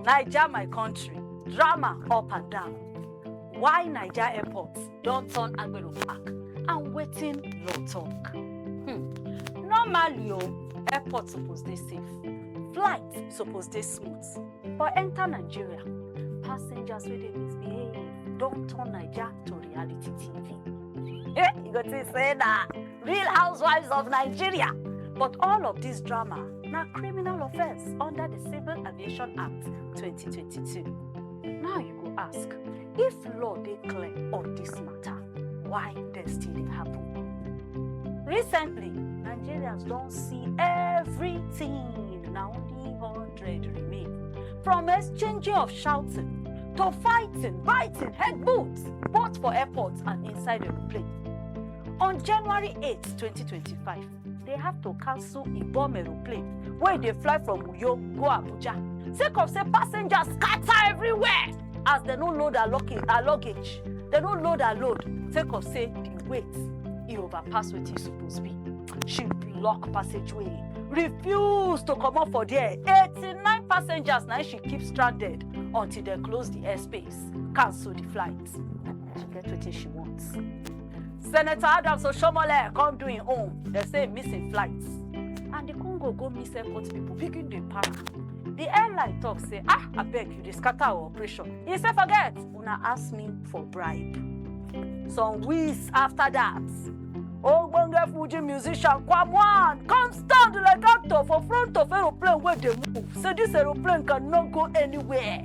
naija my country drama up and down why naija airport don turn agbero park and wetin law talk. Hmm. normally o airport suppose dey safe flight suppose dey smooth but enter nigeria passengers wey dey misbehave don turn naija to reality tv. Eh, you go think say na Real Housewives of Nigeria. But all of this drama na criminal offence under the Civil Aviation Act 2022. Now you go ask, if law dey clear on this matter, why dem still dey happen? Recently, Nigerians don see everything, na only 100 remain. From exchanging of shouting to fighting, biting, headbutts, both for airports and inside aeroplane. On January 8, 2025, they have to cancel Ibom aeroplane wey dey fly from Uyo go Abuja sake of say passengers scatter everywhere as dem no load her luggage, her luggage. Dem no load her load sake of say the weight e overpass wetin e suppose be. She block passageway, refuse to comot for there. 89 passengers na im she keep stranded until dem close the airspace, cancel the flight. She get wetin she want. Senator Adams Oshomole come do him own. They say he miss him flight. And the Congo go miss airport people begin dey para. The airline talk say, ah, abeg you dey scatter our operation. He say forget, una ask me for bribe. Some weeks after that, ogbonge Fuji musician Kwamwan come stand like actor for front of aeroplane wey dey move. Say this aeroplane can no go anywhere.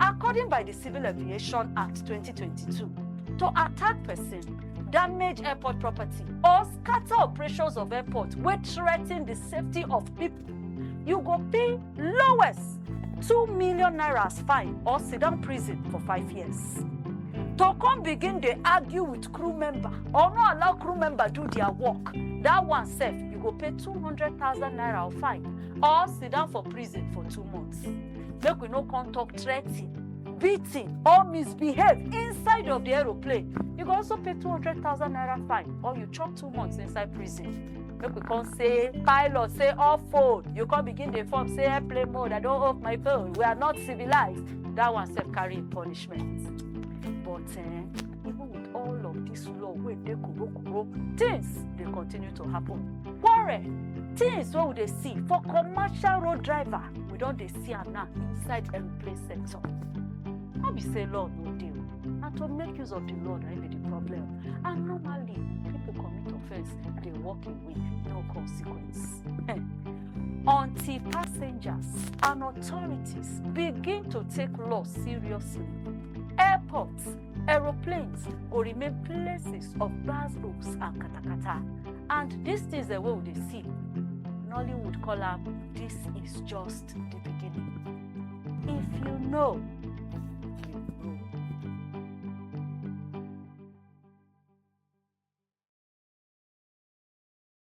according by di civil aviation act 2022 to attack pesin damage airport property or scatter operations of airport wey threaten di safety of pipo you go pay lowest two million naira as fine or sit down prison for five years to come begin dey argue with crew member or no allow crew member do their work that one sef you go pay two hundred thousand naira or fine or sit down for prison for two months make we no come talk threatening beating or misbehave inside of the aeroplane you go also pay 200000 naira fine or you chop two months inside prison make we come say pilot say off phone you come begin dey form say airplane mode i don off my phone we are not civilized that one sef carry im punishment but eh, even with all of this law wey dey kuro kuro things dey continue to happen quarrel things wey we dey see for commercial road driver we don dey see am now inside aeroplane sector no be say law no dey o na to make use of the law na im be the problem and normally people commit offence dey walk away no consequence until passengers and authorities begin to take law seriously airports aeroplanes go remain places of gbas gbos and katakata and dis things dem wey we dey see nollywood call am dis is just di beginning if you know you know.